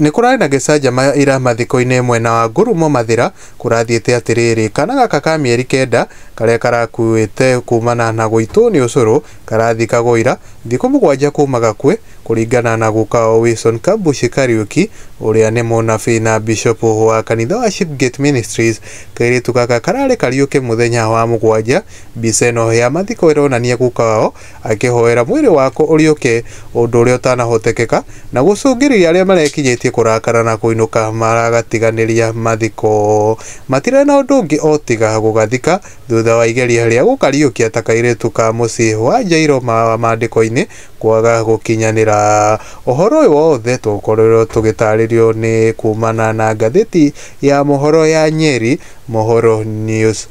Nĩ kũrarĩ na gĩcanjama ira mathiko-inĩ mwena wa Ngurumo Mathĩra, kũrathiĩte atĩrĩrĩ, kana gaka ka mĩeri kenda karĩa karakuĩte kumana na gũitwo nĩ ũcũrũ karathikagwo ira thikũ mũgwanja kuma gakue, kũringana na guka wao Wilson Kabushi Kariuki ũrĩa nĩ mũnabii na bishopu wa kanitha wa Shipgate Ministries. Kairĩtu gaka kararĩ kariũke mũthenya wa mũgwanja. Mbica ĩno ya mathiko ĩronania guka wao akĩhoera mwĩrĩ wakwa ũriũke, ũndũ ũrĩa ũtanahotekeka, na gũcũngĩrĩria arĩa marekinyĩtie kũrakara na kũinũka maragatiganĩria mathiko. Matirĩ na ũndũ ũngĩ o tiga gũgathika, thutha wa igeria rĩa gũkariũkia ta kairĩtu ka mũciĩ wa Jairo ma Maandĩko-inĩ kwaga gũkinyanĩra. Ũhoro ũyũ wothe twakorirũo tũgĩtaarĩrio nĩ kuumana na ngathĩti ya mohoro ya Nyeri, Mohoro News.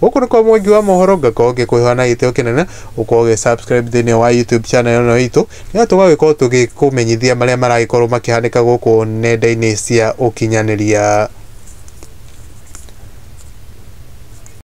Gũkũ nĩ kwa Mwangi wa mohoro ngakorwo ngĩkũhewa na gĩtĩo kĩnene ũkorwo ũgĩ subscribe thĩinĩ wa YouTube channel ĩno itũ nĩgetha tũgagĩkorwo tũgĩkũmenyithia marĩa maragĩkorwo makĩhanĩka gũkũ nenda-inĩ cia ũkinyanĩria.